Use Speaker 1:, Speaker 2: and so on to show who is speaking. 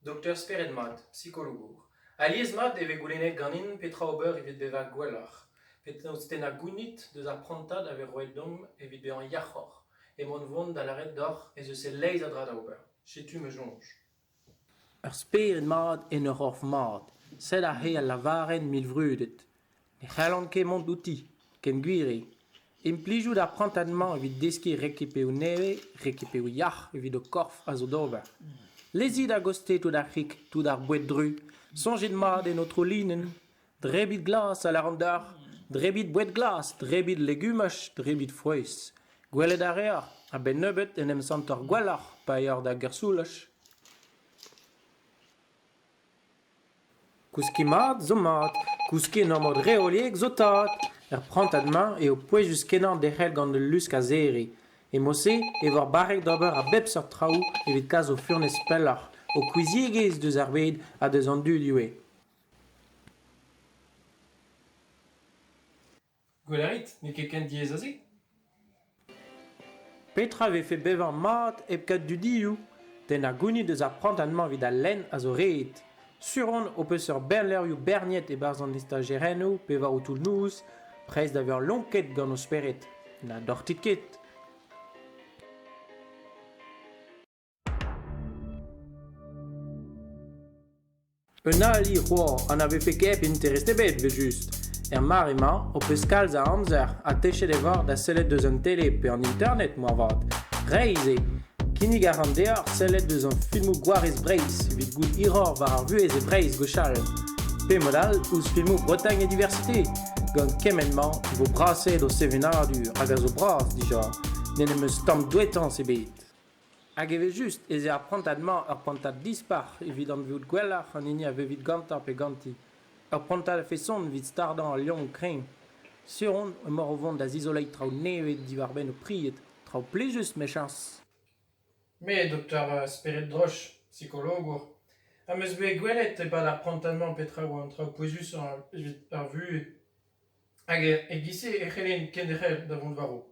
Speaker 1: Dokter spered-mat, sikologour. Alies-mat e vez goulennet ganin petra ober evit bezañ gwelloc'h. Penaos tennañ gounid deus ar prantad a vez roet deomp evit bezañ yac'hoc'h. Emaon 'vont da lâret deoc'h ez eus e-leizh a dra da ober. Setu ma soñj. Ur
Speaker 2: spered mat en ur c'horf mat. Sed aze al lavarenn mil vrudet. Ne c'hallan ket mont outi, ken gwir eo. Implijout ar prantad-mañ evit deskiñ rekipeoù nevez, rekipeoù yac'h evit ho korf a zo d'ober. Lezit a-gostez tout ar c'hig, tout ar boued-dru. Soñjit mat en ho trolinenn. Drebit glas a lâran deoc'h. Drebit boued glas, drebit legumaj, drebit frouezh. Gwelet a reoc'h, a-benn nebeut, en em santoc'h gwelloc'h pa eoc'h da gersoulaj. Kouskiñ mat zo mat, kouskiñ en ur mod reoliek zo tad. Er prantad-mañ eo pouezus-kenañ derc'hel gant ul lusk a-zerriñ. E-mod-se e vo ar barrek d'ober a bep seurt traoù evit kas ho furnez pelloc'h, ho kouiziegezh deus ar bed ha deus an dud ivez.
Speaker 1: Gwell a rit, n'eo ket ken diaes a-se ?
Speaker 2: Petra a vefe bevañ mat hep kaout dudioù ? Den a gounid eus ar prantad-mañ evit al lenn a zo ret. Sur on ho peus ur berr levrioù berniet e-barzh an istajerennoù pe war ho toull-noz, prest da vezañ lonket gant ho spered. Na dortit ket. Un ali c'hoar ha na vefe ket interest ebet 'vel-just. Er mare-mañ ho peus kalz a amzer ha techet e voc'h da sellet deus an tele pe an internet moarvat. Reizh eo. Kinnig a ran deoc'h sellet deus hon filmoù gwarez Breizh evit goût hiroc'h war ar vuhez e Breizh gwechall. Pe mod all ouzh filmoù Bretagne et Diversité. Gant kement-mañ e vo brasaet ho sevenadur hag a zo bras dija. N'en em eus tamm douetañs ebet. Hag evel-just ez eo ar prantad-mañ ur prantad dispac'h evit anvezout gwelloc'h an hini a vevit gantañ pe ganti. Ur prantad a-feson evit stardañ al liamm kreñv. Sur on emaoc'h o vont da zizoleiñ traoù nevez diwar-benn ho pried. Traoù plijus, mechañs. Me,
Speaker 1: doktor spered-droch, psikologour, am eus bet gwelet e-pad ar prantad-mañ petra oa an traoù pouezusañ evit ar vuhez. Hag e-giz-se e c'hellen kenderc'hel da vont war-raok.